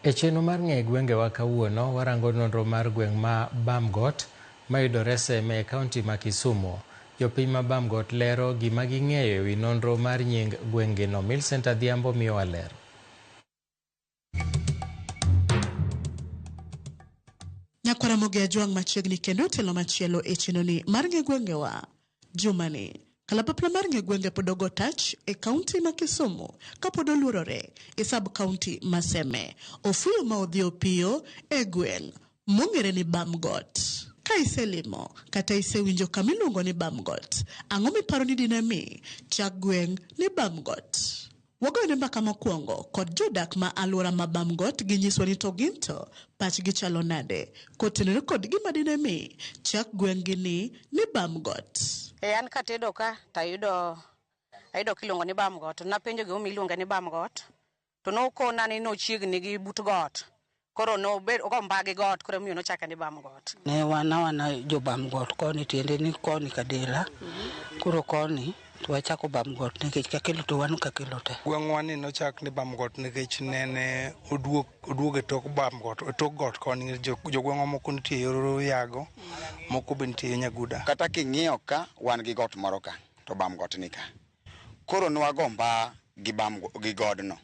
E chenro mar ng'e gwengewa kawuono, warango nonro mar gweng' ma Bamgot mayudore Seme e kaunti ma Kisumu. Jopiny ma Bamgot lero gima ging'eyo ewi nonro mar nying gweng'gino. Milcent Adhiambo miyowa ler. Nyakwar Ramogi Ajwang' machiegni kendo otelo machielo e chenoni mar ng'e gwengewa. Jumani, kalapapla mar ng'e gwenge pod ogo tach e kaunti ma Kisumu kapod oluorore e sub kaunti ma Seme. Ofuyo ma odhi opiyo e gweng' mong'ere ni Bamgot. Ka iselimo kata isewinjo kama iluongo ni Bamgot, ang'o miparo ni dine mi chak gweng' ni Bamgot? Wagoyone mbaka mokwongo kod jodak ma alwora ma Bam Got gi nyiswa ni to ginto pachgi chalo nade kotenore kod gima dine mi chak gweng'gi ni ni Bam Got. E an katedo ka tayudo ayudo kiluongo ni Bam Got. Napenjo gimomiyo iluonge ni Bam Got to nokona ni nochiegni gi but got koro nobed ogo mbagi got koro miyo nochake ni bam got ne wana wana jo bam got koni tiende ni koni kadela koro koni to wachako bam got nikech kakelo to wan kakelo te gweng'wa ni nochak ni bam got nikech nene oduog oduog e tok bam got e tok got koni jo- jogweng'wa moko nitie yor yago moko be nitie yo nyaguda kata king'iyo ka wan gi got moro ka to bam got ni ka koro nwago mba gi bam gi godno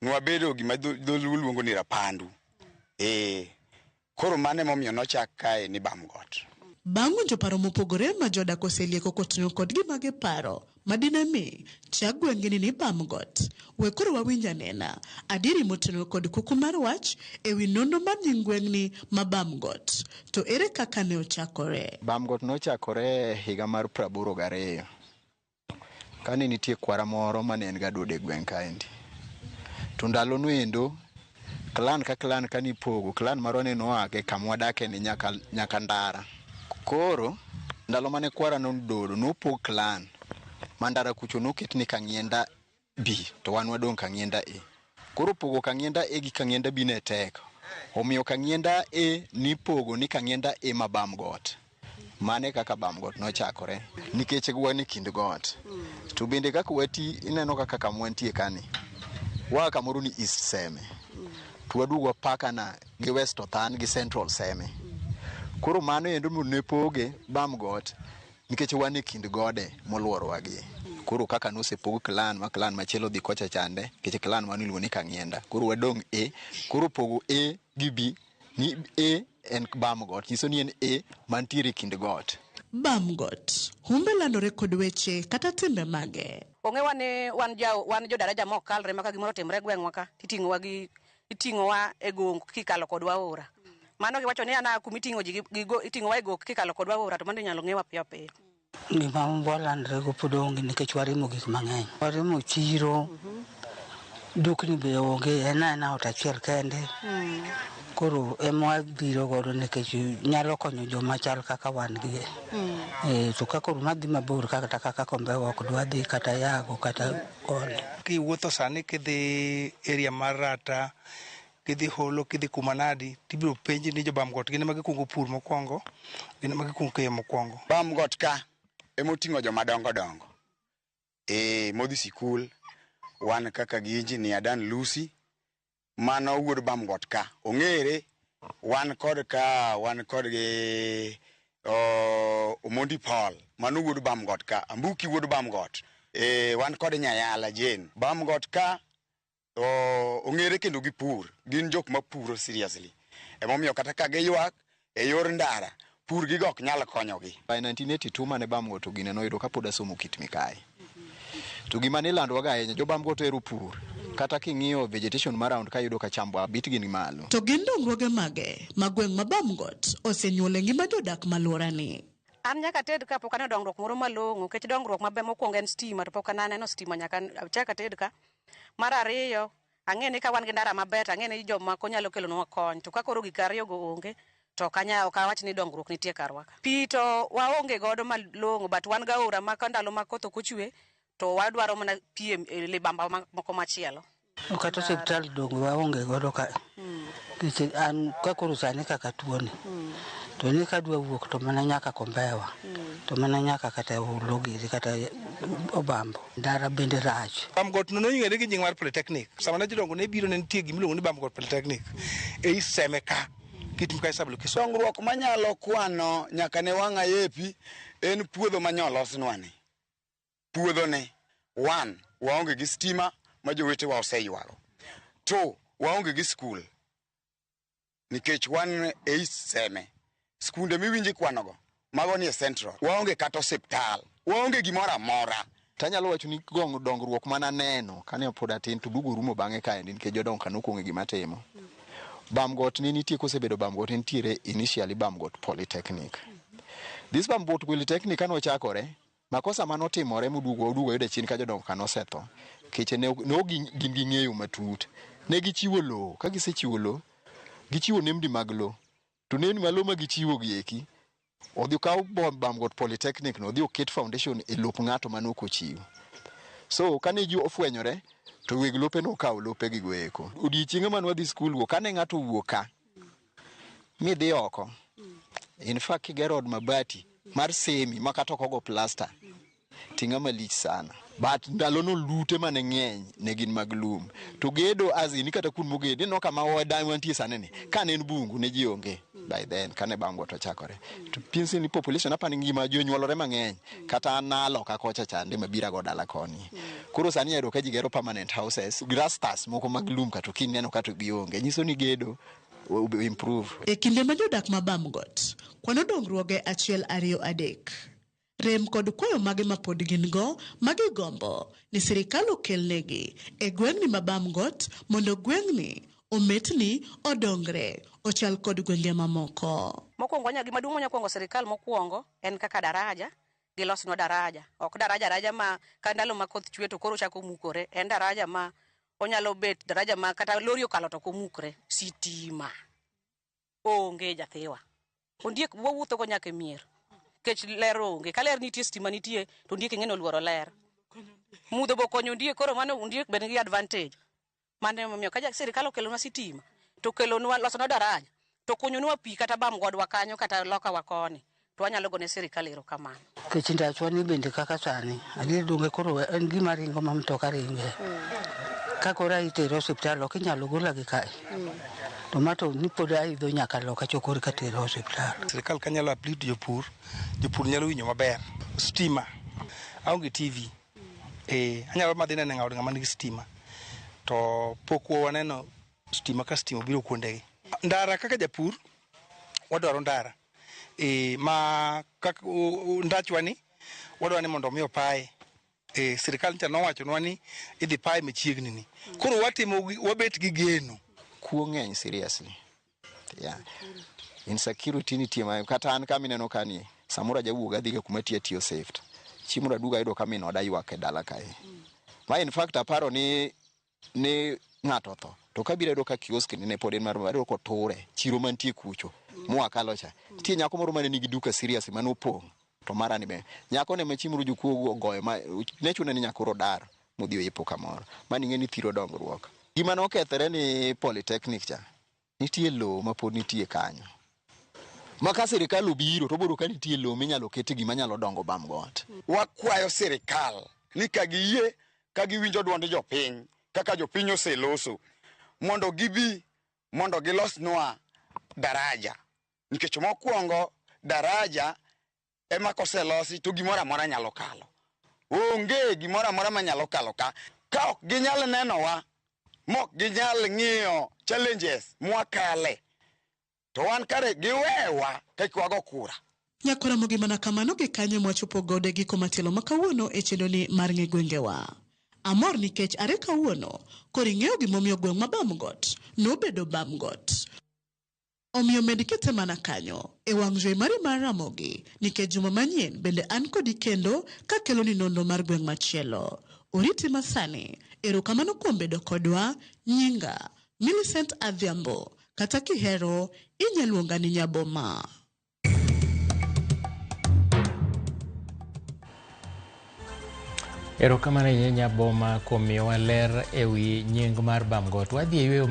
nwabedo gima dho- dholuo luongo ni rapandu ee koro mano emomiyo nochak kae ni bamgot Bang' winjo paro mopogore ma jodak oselieko koting'o kod gima giparo ma dine mi chak gweng'ini ni Bamgot, we koro wawinj anena adieri motenore kod kuku mar wach e wi nonro mar nying gweng'ni ma Bamgot, to ere kaka ne ochakore? Bamgot nochakore e higa mar praboro gariyo. Kane nitie kwara moro mane en ga duode gweng' kaendi. To ndalo noendo, klan ka klan kane ipogo, klan marwa ne noa e kama wadake ni nyaka nyaka ndara. Koro ndalo mane kwara noduodo, nopog klan. Ma ndara kucho noket ni Kang'ienda. B to wan wadong' Kang'ienda A. Koro pogo Kang'ienda A gi Kang'ienda B ne tek, omiyo Kang'ienda A nipogo ni Kang'ienda A ma Bam Got. Mano e kaka Bam Got nochakore nikech wan e kind got. To bende kaka wati ineno kaka kama wantie kani, waa kamoro ni East Seme to waduogo wapakana gi West Othan gi Central Seme. Koro mano endo mondo ne poge Bam Got nikech wan e kind gode molworowa gi koro kaka nosepog clan ma clan machielo dhi kocha chande nikech clan mano iluongo ni kang'ienda koro wadong' e koro pogo e gi b ni e en bam got nyiso ni en e mantiere e kind got Bamgot. Humbe landore kod weche kata timbe mage. Ong'ewa ni wan ja wan jo daraja ma ok kalre ma ka gimoro otimre e gweng'wa ka titing'owa gi iting'owa e gong kikalo kodwa aora mano giwacho ni ana kuma iting'o ji iting'owa e gok kikalo kodwa aora to mano inyalo ng'ewa piyo piyo gima walandrego pod onge nikech warimo gik mang'eny warimo chiro dukni be onge en aena ot achiel kende hmm. koro ema wabiro godo nikech nyalo konyo joma chal kaka wan gi hmm. eh, to ka koro madhi mabor kata kaka kombewa ok dwadhi kata yago kata koni. Kiwuotho sani kidhi area mar Rata, kidhi Holo, kidhi Kumanadi, tibiro penji ni jobam got gin ema gikwongo pur mokwongo, gin ema gikwongo keyo mokwongo. Bam got ka ema oting'o joma dongo dongo. Ee, modhi sikul, wan kaka gi Engineer Dan Lusi, mano wuod Bamgot ka ong'ere wan kod ka wan kod gi oh, Omondi Paul mano wuod Bamgot ka Ambuki wuod Bamgot eh, wan kod Nyayala Jane Bamgot ka oh, ong'ere kendo gi pur gin jok ma puro seriously emomiyo kata ka giywak e yor ndara, pur gigo ok nyal konyogi. By 1982 mane Bam Goto gine noyudo ka pod asomo kit mikayi. To gima nilandowaga ahinya, jo Bam Goto hero pur. Kata king'iyo vegetation ma round ka iyudo ka chambo abit gi ni malo. To gin dongruoge mage ma gweng' ma Bam Got osenyuolo e ngima jodak ma alworani? An nyaka ated ka pok aneno dongruok moro malong'o nikech dongruok maber mokwongo en stima to pok an aneno stima nyaka achak ated ka. Mar ariyo, Ang'e ni ka wan gi ndara maber to ang'e ni jomako nyalo kelonwa kony. To ka koro gik ariyogo onge, to ok anya ok awach ni dongruok nitie karwa ka. Pi to waonge godo malong'o but wan gaora ma ka ndalo ma koth ok ochwe to wadwaro mana pi e e libamba ma- moko machielo. To kata osiptal donge waonge godo ka nikech an ka koro sani kaka tuoni to ni kadwa wuok to mana nyaka kombewa to mana nyaka kata olo giri kata obambo Ndara bende rach. Bamgot no nong'ere gi nying mar Polytechnic. Sama ne jodongo ne biro ne nitie gimiluongo ni Bamgot Polytechnic. E iseme ka. Kitim ka isablo kiso. Dongruok manyalo kwano nyaka ne wang'a yepi en puodho ma nyolosnwani. Puodho ni, one, waonge gi stima ma jowetewa oseywago. Two, waonge gi skul. nikech wan e East Seme. Skunde miwinje kwanogo mago ni e Central. Waonge kata osiptal. Waonge gimoro amora. To anyalo wacho ni gong dongruok mana neno kane pod atin to duogo rumo bang'e kaendi nikech jodongo ka nokong'e gima timo. Bamgot ne nitie kosebedo Bamgot ne nitiere initially Bamgot Polytechnic. This Bamgot Polytechnic kane ochakore Makosa mane otimore moduogo oduogo oyude chien ka jodongo kane osetho. Keche ne ok ne ok gin gin gi ng'eyo matut. Ne gichiwo lowo, ka gisechiwo lowo, gichiwo nembni mag lowo. To nembni mag lowo ma gichiwo gi eki, odhi okaw bo- Bamgot Polytechnic no, odhi oket foundation e lop ng'ato mane ok ochiw. So kane ji ofwenyore, to weg lope nokawo lope gigo eko. Odiechienge mane wadhi skul go, kane ng'ato owuok ka, midhi oko in fact kigero od mabati mar semi ma kata ok ogo plasta ting'a malich sana but ndalo no lute mane ng'eny ne gin mag lum to gedo as in kata kun mogedi no kama wada wantie sani ni kane en bungu ne ji onge by then kane bango to chakore to pinsi ni population apani ngima jonyuolore mang'eny kata an nalo ka kocha chande mabira go dala koni koro sani ayudo ka ji gero permanent houses grastas moko mag lum kata kineno kata gionge nyiso ni gedo E kinde ma jodak ma Bamgot kwano dongruoge achiel ariyo adek, rem kod kwayo mage ma pod gin go ma gigombo ni sirikal okel negi e gweng'ni ma Bamgot mondo gweng'ni ometni odongre ochal kod gwenge ma moko. Mokwongo wanya gima duong' wanya kwongo sirikal mokwongo en kaka daraja gilosnwa daraja ok daraja araja ma ka ndalo ma koth chwe to koro ochako mukore en daraja ma onyalo bet daraja ma kata lori okalo to komukre sitima onge jathiwa ondiek wawuotho go nyaka e mier kech ler onge ka ler nitie stima nitie to ondiek ing'e ni oluoro ler mudho bo konyo ondiek koro mano ondiek bed gi advantage mane momiyo ka sirikal okelonwa sitima to kelonwa losonwa daraja to kunyonwa pi kata bam godwa kanyo kata lokawa koni to wanyalo gone sirikal erokamano. Kech ndachwa ni bende kaka sani adier donge koro en gima ringo ma mtoka ringe mm. ka koro itere osiptal ok inyalo gola gi kae mm. to ma to ni pod aidho nyaka loka chokori ka tere osiptal. Sirikal ka nyalo aplit jopur, jopur nyalo winjo maber. Stima, aonge TV, eh, anyalo madhi nene ng'aod ng'ama nigi stima to pok waneno stima ka stima obiro kuondegi. Ndara kaka japur wadwaro ndara e, ma kaka ndachwa ni wadwaro ni mondo omi opaye e, sirikal ncha nowachonwa ni idhi paye machiegni ni koro watimo wabet gi geno kuo ng'eny seriously yeah. insecurity nitie ma kata an kama ineno ka ni samoro ajawuog adhi ga kuma tiya tiyo safe chimulo aduga ayudo ka min oda ywak e dala kae ma in fact aparo ni ne ng'ato otho to kabiro ayudo ka kiosk ne pod en mar ayudo koture chiro mantie kucho moa kalo cha nitie nyako moro mane nigi duka serious mane opong' to mara ni be nyako ne machieng' moro jokuogu ogoyo ma ne chune ni nyako rodar modhi oyepo kamoro mani ng'e ni thiro dongruok gima nokethore ni polytechnic cha Nitie lowo ma pod nitie kanyo ma ka sirkal obiro to obiro ka nitie lowo minyalo kete gima nyalo dongo bam got. Wakwayo sirkal ni ka giyie ka giwinjo duond jopiny kaka jopiny oseloso mondo gibi mondo gilosnwa daraja nikech mokwongo daraja ema koselosi to gimoro amora nyalo kalo. Onge gimoro amora manyalo kalo ka ka ok ginyal nenowa mok ginyal ng'iyo challenges mwakale to wan kare giwewa kek wago kura. Nyakoromogi mana kamano gi kanyo mwachopo gode giko matielo ma kawuono e chenroni mar ng'e gwengewa. Amor nikech are kawuono koro ing'eyo gimomiyo gweng' ma Bamgot nobedo Bamgot. Omiyo med kete mana kanyo, e wang' jowi mari mar Ramogi, nikech juma manyien bende an kodi kendo kakeloni nonro mar gweng' machielo. Oriti masani. Erokamano kuom bedo kodwa. Nyinga, Millicent Adhiambo. Kata kihero, inya luonga ni Nyaboma. Erokamano ahinya Nyaboma kuom miyowa ler ewi nying mar Bamgot. Wadhi e yueyo.